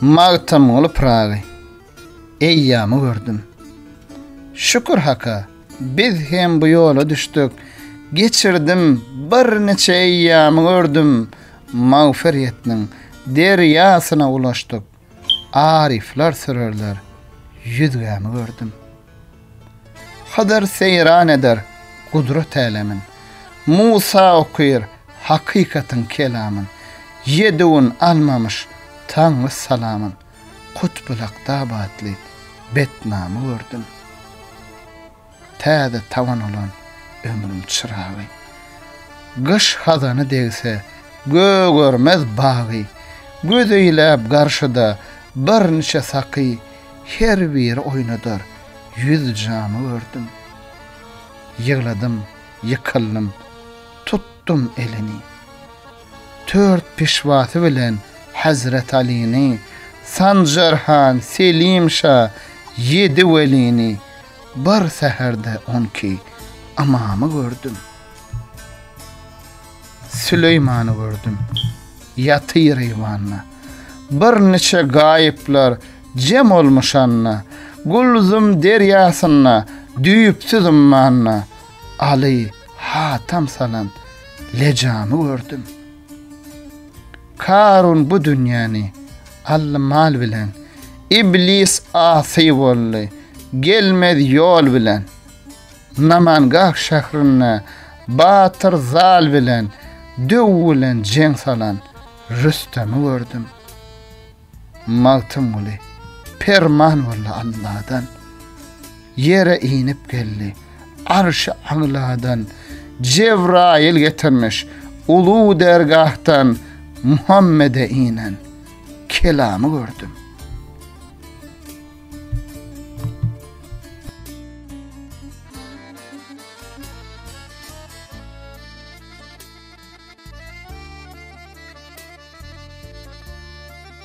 Magtymguly Pyragy eýýamy gördüm. Şükür Haka, biz hem bu ýola düşdük. Geçirdim birniçe eýýamy gördüm. Magfyr ýetniň derýasyna ulaşdyk. Aryflar sürerler ýüzgämi gördüm. Hydyr seýran eder gudrat älemin, Musa okyr hakykatyň kelamyn, Ýedüwün almamyş taňry salamyn, Kutbulakda batly betnamy gördüm. Täze tabany bolan ömrüň çyragy. Gyş hazany degse gögermez bagy. Göz eýläp garşyda birniçe saky, Her biri oýnadar ýüz jamy gördüm. Ýygladym, ýykyldym, tutdum elini. Tört pişwasy bilen Hezret Alyny, Sanjar han, Selim şa, Ýedi welini, Bir säherde on iki ymamy gördüm. Süleýmany gördüm, ýatyr eýwanda. Birniçe gaýyplar jem olmuş anda, Gulzum derýasynda, düýpsüz ummanda. Aly hatam salan lejamy gördüm. Karun bu dünýäni aldy mal bilen, iblis asy boldy gelmez ýol bilen. Namangah şährinde batyr zal bilen, döw bilen jeň salan Rüstemi gördüm. Magtymguly, Perman boldy Alladan, Ýere inip geldi, Arşy agladan, Jebraýyl getirmiş, Uly dergahdan, Muhammede inen, Kelamy gördüm.